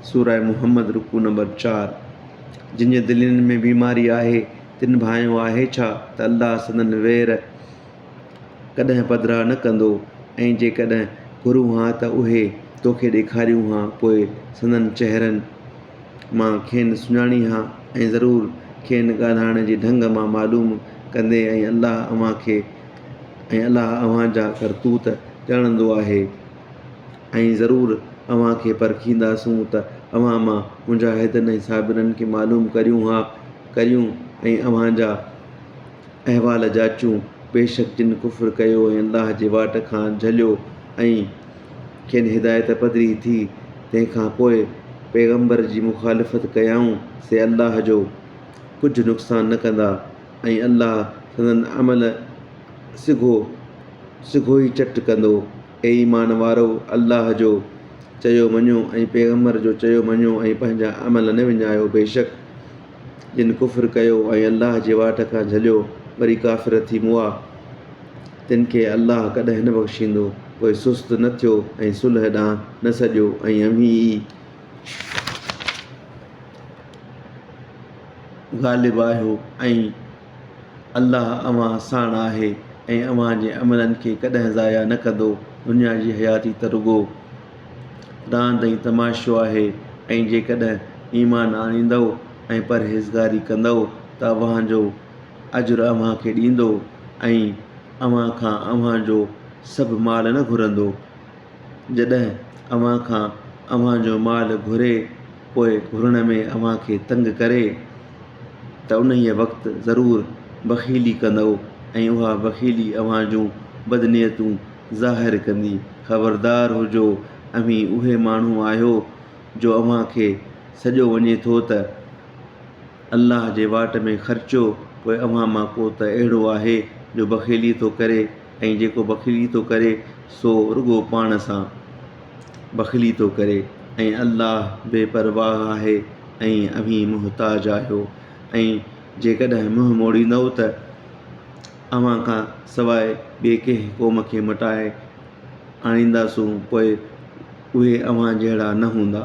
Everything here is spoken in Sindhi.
سورة محمد رڪوع نمبر چار، جن جي دلين ۾ بيماري آهي، تن ڀانئيو آهي ڇا ته الله سندن وير ڪڏهن پڌرا نه ڪندو ۽ جيڪڏهن گهرون ها ته اهي توکي ڏيکاريون ها پوء سندن چهرن مان کين سڃاڻين ها ۽ ضرور کين ڳالهائڻ جي ڍنگ مان معلوم ڪندين ۽ الله اوهان کي ۽ الله اوهان جا ڪرتوت ڄاڻندو آهي. ۽ ضرور اوهان کي پرکينداسون ته اوهان مان مجاهدن ۽ صابرن کي معلوم ڪريون ها ڪريون ۽ اوهان جا احوال جاچون، بيشڪ جن ڪفر ڪيو ۽ الله جي واٽ کان جهليو ۽ کين هدايت پڌري ٿي تنهن کان پوء پيغمبر جي مخالفت ڪيائون سي الله جو ڪجهه نقصان نه ڪندا ۽ الله سندن عمل سگهو سگهوئي چٽ ڪندو. اي ايمان وارؤ! الله جو چيو مڃو ۽ پيغمبر جو چيو مڃو ۽ پنهنجا عمل نه وڃايو، بيشڪ جن ڪفر ڪيو ۽ الله جي واٽ کان جهليو وري ڪافر ٿي مئا، تن کي الله ڪڏهن نه بخشيندو. پوء سست نه ٿيو ۽ صلح ڏانهن نه سڏيو ۽ اوهين ئي غالب آهيو ۽. الله اوهان ساڻ آهي ۽ اوهان جي عملن کي ڪڏهن ضايع نه ڪندو. دنيا جي حياتي ته رڳو راند ۽ تماشو آهي ۽ جيڪڏهن ايمان آڻيندؤ ۽ پرهيزگاري ڪندؤ ته اوهان جو اجر اوهان کي ڏيندو ۽ اوهان کان اوهان جو سڀ مال نه گهرندو. جڏهن اوهان کان اوهان جو مال گهري، پوء گهرڻ ۾ اوهان کي تنگ ڪري ته انهيء وقت ضرور بخيلي ڪندؤ ۽ اها بخيلي اوهان جون بدنيتون ظاهر ڪندي. خبردار هجو، اوهين اهي ماڻهو آهيو جو اوهان کي سڏيو وڃي ٿو ته الله جي واٽ ۾ خرچيو، پوء اوهان مان ڪو ته اهڙو آهي جو بخيلي ٿو ڪري ۽ جيڪو بخيلي ٿو ڪري سو رڳو پاڻ سان. بخلي ٿو ڪري ۽ الله بي پرواهه آهي ۽ اوهين محتاج آهيو ۽ جيڪڏهن منهن موڙيندؤ ته اوهان کان سواء ٻئي ڪنهن قوم کي مٽائي آڻينداسون پوء اهي اوهان جهڙا نه هوندا.